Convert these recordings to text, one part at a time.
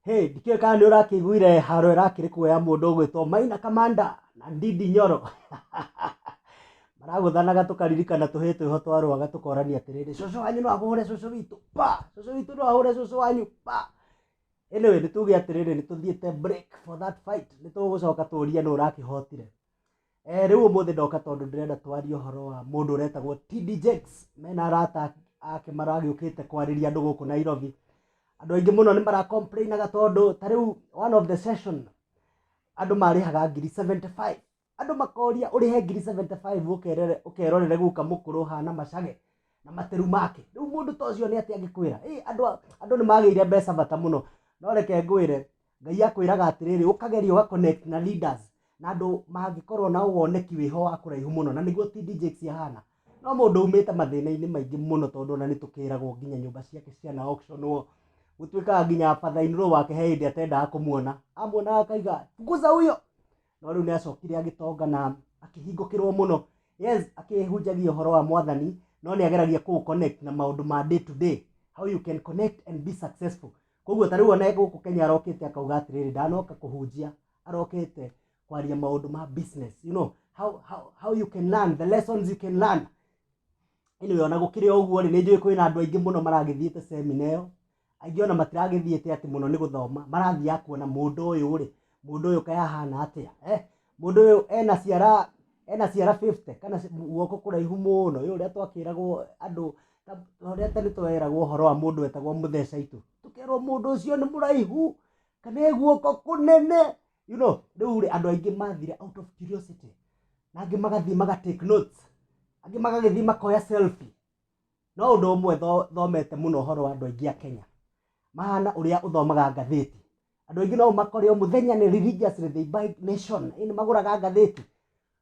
Hey, ndikĩũĩ kana nĩ ũrakĩiguire haro ĩrakĩrĩ kuoya mũndũ ũgwĩtwo Maina Kamanda na Ndindi Nyoro maragũthanaga tũkaririkana tũhĩĩ twĩho twa rwaga tũkorania atĩrĩrĩ cũcũ wanyu no ahũre cũcũ witũ pa cũcũ witũ no ahũre cũcũ wanyu pa anyway nĩ tuge atĩrĩrĩ nĩ tũthiĩte break for that fight nĩ tũgũcoka tũrie nũ ũrakĩhotire Eh, rĩu ũmũthĩ ndoka tondũ ndĩrenda twarie ũhoro wa mũndũ ũretagwo TD Jakes mena arata ake maragĩũkĩte kwarĩria andũ gũkũ Nairobi andũ aingĩ mũno nĩ maracomplainaga tondũ ta rĩu one of the session andũ marĩhaga ngiri 75 andũ makoria ũrĩhe ngiri 75 ũkerere ũkerorere guka mũkũrũ hana macage na materu make rĩu mũndũ ta ũcio nĩ atĩ angĩkwĩra ĩ andũ a- andũ nĩ magĩire mbeca bata mũno no reke ngwĩre Ngai akwĩraga atĩrĩrĩ, ũkageria ũga connect na leaders na andũ mangĩkorwo na woneki wĩho wa kũraihu mũno, na nĩguo TD Jakes ahana. No mũndũ umĩte mathĩna-inĩ maingĩ mũno tondũ ona nĩtũkĩragwo nginya nyũmba ciake ciana auction wo. Gũtuĩkaga nginya father in law wake he hĩndĩ atendaga kũmuona, amuonaga akauga fukuza huyo! No rĩu nĩacokire agĩtonga na akĩhingũkĩrwo mũno. Yes, akĩhunjagia ũhoro wa Mwathani, no nĩageragia kũũ connect na maũndũ ma day to day, how you can connect and be successful. koguo ta rĩu ona gũkũ Kenya arokĩte akauga atĩrĩrĩ ndanoka kũhunjia arokĩte kwaria maũndũ ma business you know how, how, how you can learn the lessons you can learn anyway ona gũkĩrĩ o ũguo rĩ nĩ njũĩ kwĩna andũ aingĩ mũno maragĩthiĩte semina ĩyo aingĩ ona matiragĩthiĩte atĩ mũno nĩ gũthoma marathiaga kuona mũndũ ũyũ rĩ mũndũ ũyũ kaĩ ahana atĩa eh? Mũndũ ũyũ ena ciara ena ciara 50 kana guoko kũraihu mũno ũyũ ũrĩa twakĩragwo andũ ũrĩa tene tweragwo ũhoro wa mũndũ wetagwo mũthecaitũ tũkerwo mũndũ ũcio nĩ mũraihu kana e guoko kũnene you know rĩu rĩ andũ aingĩ mathire out of curiosity na angĩ magathiĩ maga take notes angĩ magagĩthiĩ makoya selfie No ũndũ ũmwe tho- thomete mũno ũhoro wa andũ aingĩ a Kenya mahana ũrĩa ũthomaga ngathĩti. Andũ aingĩ no makore o mũthenya nĩ religiously they buy nation, ĩĩ nĩ magũraga ngathĩti.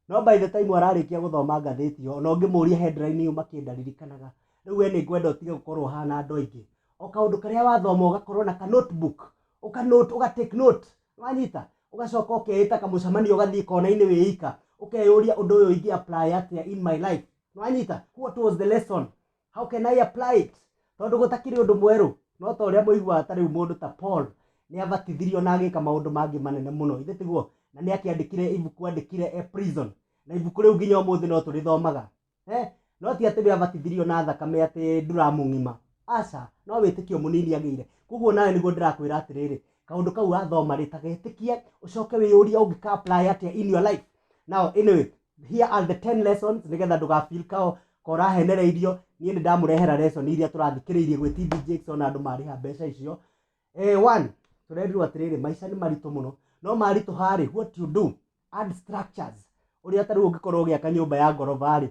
No by the time ararĩkia gũthoma ngathĩti ĩyo, ona ũngĩmũria headline yuma kĩ ndaririkanaga. Rĩu we nĩ ngwenda ũtige gũkorwo ũhana andũ aingĩ. O kaũndũ karĩa wathoma ũgakorwo na ka note book, ũka note, ũga take note. Nĩ wanyita? Ũgacoka ũkeĩta kamũcemanio ũgathiĩ kona-inĩ wĩ ika, ũkeyũria ũndũ ũyũ ingĩ apply atĩa in my life. nĩwanyita what was the lesson how can i apply it tondũ gũtakĩrĩ ũndũ mwerũ no ta ũrĩa mũiguaga ta rĩu mũndũ ta paul nĩ abatithirio na agĩka maũndũ mangĩ manene mũno ithe tiguo na nĩ akĩandĩkire ibuku andĩkire e prison na ibuku rĩu nginya ũmũthĩ no tũrĩthomaga eh? no ti atĩ we abatithirio na thakame atĩ nduramũng'ima aca no wĩtĩkio mũnini agĩire koguo nawe nĩguo ndĩrakwĩra atĩrĩrĩ kaũndũ kau wathoma rĩ ta getĩkie ũcoke wĩyũria ũngĩka apply atĩa in your life now anyway Here are the 10 lessons nĩgetha ndũga feel kao ka ũrahenereirio. Niĩ nĩ ndamũrehera lesson iria tũrathikĩrĩirie gwĩ TD Jakes ona andũ marĩha mbeca icio. Eh, one, tũrerirwo atĩrĩrĩ, maica nĩ maritũ mũno. No maritũha-rĩ, what you do, add structures. Ũrĩa ta rĩu ũngĩkorwo ũgĩaka nyũmba ya ngoroba-rĩ,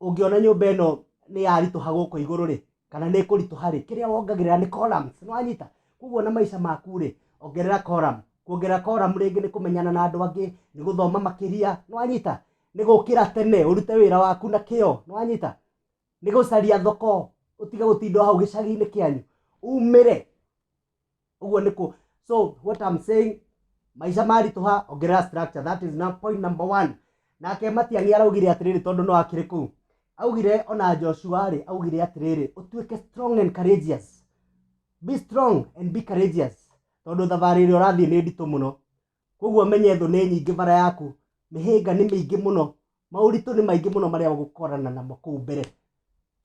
ũngĩona nyũmba ĩno nĩ yaritũha gũkũ igũrũ rĩ kana nĩ kũritũha rĩ kĩrĩa wongagĩrĩra nĩ columns nĩ wanyita koguo na maica maku rĩ ongerera column kuongerera column rĩngĩ nĩ kũmenyana na andũ angĩ nĩ gũthoma makĩria nĩ wanyita nĩ gũkĩra tene ũrute wĩra waku na kĩo nĩ wanyita nĩ gũcaria thoko ũtige gũtinda o hau gĩcagi-inĩ kĩanyu umĩre ũguo nĩ kũ so what I'm saying maica maritũha ongerera structure that is now point number one nake matiang'i araugire atĩrĩrĩ tondũ no akĩrĩ kũu augire ona joshua rĩ augire atĩrĩrĩ ũtuĩke strong and courageous be strong and be courageous tondũ thabarĩ ĩrĩa ũrathiĩ nĩ nditũ mũno Koguo menye thũ nĩ nyingĩ bara yaku, mĩhĩnga nĩ mĩingĩ mũno, maũritũ nĩ maingĩ mũno marĩa ũgũkorana namo kũu mbere.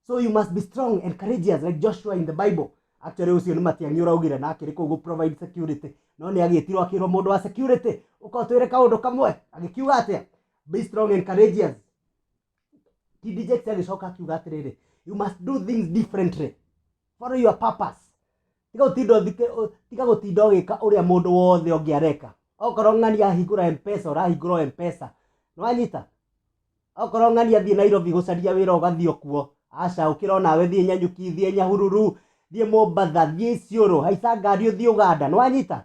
So you must be strong and courageous like Joshua in the Bible. Actually ũcio nĩ Matiang'i ũraugire na akĩrĩ kũu gũ provide security, no nĩ agĩtirwo akĩrwo mũndũ wa security ũka ũtwĩre kaũndũ kamwe, agĩkiuga atĩa? Be strong and courageous. ti deject agĩcoka akiuga atĩrĩrĩ you must do things differently follow your purpose tiga gũtinda ũthike- ũ- tiga gũtinda ũgĩka ũrĩa mũndũ wothe ũngĩ areka okorwo ng'ani ahingũra mpesa ũrahingũra o mpesa nĩwanyita okorwo ng'ani athiĩ nairobi gũcaria wĩra ũgathiĩ okuo aca ũkĩra onawe thiĩ nyanyuki thiĩ nyahururu thiĩ mombatha thiĩ isiũrũ haica ngari ũthiĩ ũganda nĩwanyita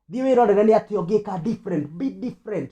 thiĩ wĩrorere nĩ atĩ ũngĩka different be different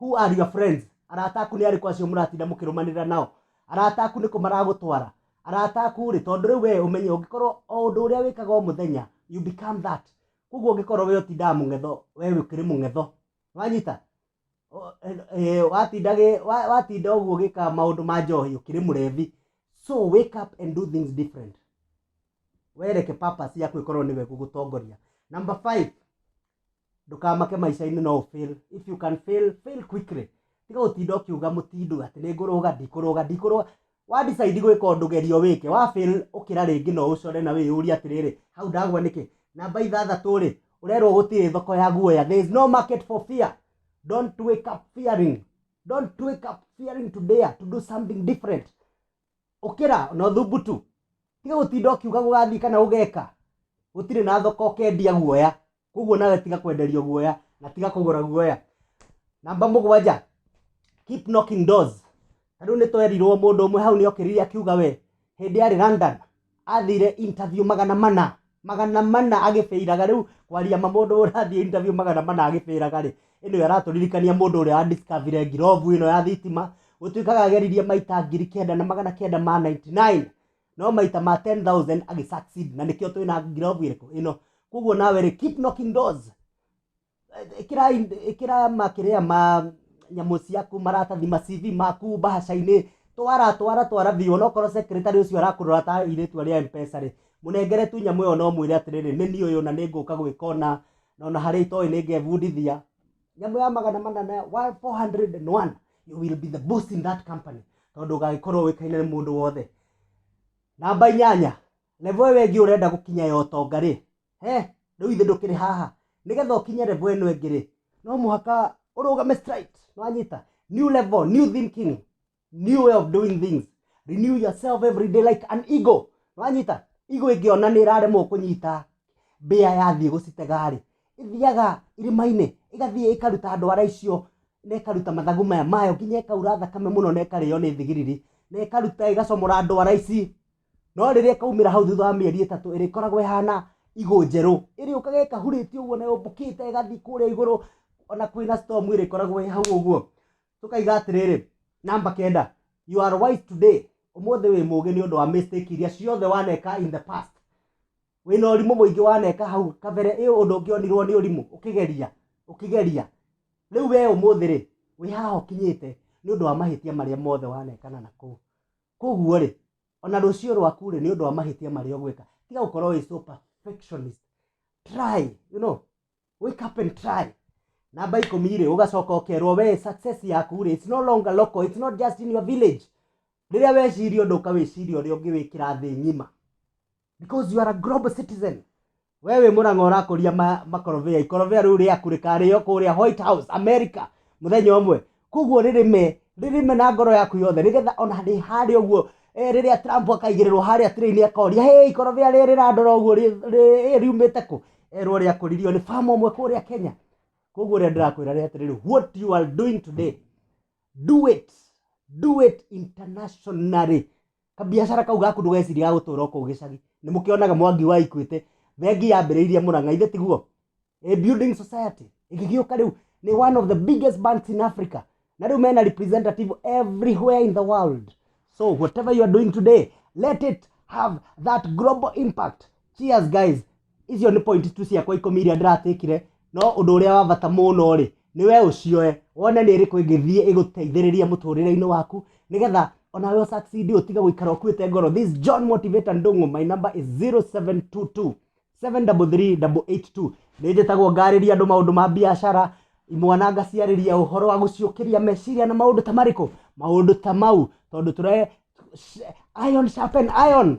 Who are your friends? Arata aku nĩ arĩkũ acio mũratinda mũkĩrũmanĩrĩra nao? Arata aku nĩ kũ maragũtwara? Arata aku-rĩ, tondũ rĩu wee ũmenye ũngĩkorwo o ũndũ ũrĩa wĩkaga o mũthenya, you become that. Kwoguo ũngĩkorwo wee ũtindaga mũng'etho, wee ũkĩrĩ mũng'etho. Nĩ wanyita? Watinda watinda ũguo ũgĩka maũndũ ma njohi, ũkĩrĩ mũrebi. So wake up and do things different. Wee reke purpose yaku ĩkorwo nĩwe ĩgũgũtongoria. Number five, Ndũkamake maica-inĩ no ũ fail, if you can fail, fail quickly. Tiga gũtinda ũkiuga mũtindũ atĩ nĩ ngũrũga, ndikũrũga, ndikũrũga. Wa decide gwĩka ũndũ geria ũwĩke, wa fail ũkĩra rĩngĩ no ũcore na wĩyũrie atĩrĩrĩ, hau ndagwa nĩkĩ? Namba ithathatũ rĩ, ũrerwo gũtirĩ thoko ya guoya, there is no market for fear. Don't wake up fearing, don't wake up fearing to dare to do something different. ũkĩra na ũthumbutu tiga gũtinda ũkiuga gũgathiĩ kana ũgeka gũtirĩ na thoko ũkendia guoya koguo nawe tiga kwenderio guoya na tiga kũgũra guoya namba mũgwanja keep knocking doors tarĩu nĩtwerirwo mũndũ ũmwe hau nĩokĩrire akiuga we hĩndĩ arĩ London athire interview magana mana magana mana agĩbĩiraga rĩu kwaria ma mũndũ ũrathiĩ interview magana mana agĩbĩiraga rĩ ĩno aratũririkania mũndũ ũrĩa wa discovery ngirobu ĩno ya thitima gũtuĩkaga ageririe maita ngiri kenda na magana kenda ma 99 no maita ma 10000 agĩ succeed na nĩkĩo twĩna ngirobu ĩrĩkũ ĩno koguo nawe rĩ keep knocking doors ĩkĩrai ĩkĩra makĩrĩa ma nyamũ ciaku maratathi ma CV maku mbahaca-inĩ twara twara twara biũ onokorwo secretary ũcio arakũrora ta airĩtu arĩa a Mpesa rĩ mũnengere tu nyamũ ĩyo na ũmwĩre atĩrĩrĩ nĩ niĩ ũyũ na nĩngũka gwĩka ũna na ona harĩa itoĩ nĩngebundithia nyamũ ya magana manana wa 400 and one you will be the boss in that company tondũ ũgagĩkorwo ũĩkaine nĩ mũndũ wothe namba inyanya Level ĩyo ĩngĩ ũrenda gũkinya ya ũtonga rĩ, he, rĩu githĩ ndũkĩrĩ haha? Nĩgetha ũkinye level ĩno ĩngĩ rĩ, no mũhaka ũrũgame straight. Nĩwanyita? New level, new thinking, new way of doing things. Renew yourself every day like an eagle. Nĩwanyita? Eagle ĩngĩona nĩĩraremwo kũnyita mbĩa yathiĩ gũcitega rĩ, ĩthiaga irĩma-inĩ, ĩgathiĩ ĩkaruta ndwara icio na ĩkaruta mathagu maya mayo nginya ĩkaura thakame mũno na ĩkarĩo nĩ thigiriri, na ĩkaruta ĩgacomora ndwara ici. no rĩrĩa ĩkaumĩra hau thutha wa mĩeri ĩtatũ ĩrĩkoragwo ĩhana igũ njerũ ĩrĩũkaga ĩkahurĩtio ũguo na yũmbũkĩte ĩgathiĩ kũrĩa igũrũ ona kwĩna storm ĩrĩkoragwo ĩ hau ũguo tũkaiga atĩrĩrĩ namba kenda you are wise today ũmũthĩ wĩ mũgĩ nĩ ũndũ wa mistake iria ciothe waneka in the past wĩna ũrimũ mũingĩ waneka hau kabere ĩ ũndũ ũngĩ onirwo nĩ ũrimũ ũkĩgeria ũkĩgeria rĩu we ũmũthĩ rĩ wĩ haha ũkinyĩte nĩ ũndũ wa mahĩtia marĩa mothe wanekana na kũu Koguo-rĩ, o na rũciũ rwaku-rĩ, nĩ ũndũ wa mahĩtia marĩa ũgwĩka, tiga gũkorwo wĩ so perfectionist. Try, you know, wake up and try. Namba ikũmi-rĩ, ũgacoka ũkerwo wee success yaku-rĩ, it's no longer local, it's not just in your village. Rĩrĩa weciria ũndũ ũkawĩciria ũrĩa ũngĩwĩkĩra thĩ ng'ima. because you are a global citizen wewe mũrang'a ũrakũria ma- makorobia ikorobia rĩu rĩaku rĩkarĩo kũrĩa white house america mũthenya ũmwe koguo rĩrĩme rĩrĩme na ngoro yaku yothe nĩgetha ona rĩ harĩa ũguo eh, rĩrĩa trump akaigĩrĩrwo harĩa tĩrĩ-inĩ akoria hĩ ikorobia rĩrĩ rĩrandora ũguo rĩ- rĩ- ĩ, riumĩte kũ erwo rĩakũririo nĩ famu ũmwe kũrĩa kenya koguo rĩa ndĩrakwĩra rĩ atĩrĩrĩ what you are doing today do it do it internationally Kabiacara kau gaku ndũgecirie gagũtũra o kũu gĩcagi. Nĩ mũkĩonaga Mwangi wa Equity, bengi yambĩrĩirie Mũrang'a, ithe tiguo? A building society ĩgĩgĩũka rĩu nĩ one of the biggest banks in Africa. Na rĩu mena representative everywhere in the world. So whatever you are doing today, let it have that global impact. Cheers guys. icio nĩ point tu ciakwa ikũmi iria ndĩratĩkire no ũndũ ũrĩa wa bata mũno rĩ nĩ we ũcioe wone nĩ ĩrĩkũ ĩngĩthiĩ ĩgũteithĩrĩrie mũtũrĩre-inĩ waku nĩgetha ona we ũsucceed ũtige gũikara ũkuĩte ngoro this John Motivator Ndung'u my number is 0722 733882 nĩ njĩtagwo ngarĩria andũ maũndũ ma biacara imwana ngaciarĩria ũhoro wa gũciũkĩria meciria na maũndũ ta marĩkũ maũndũ ta mau tondũ tũre iron sharpen iron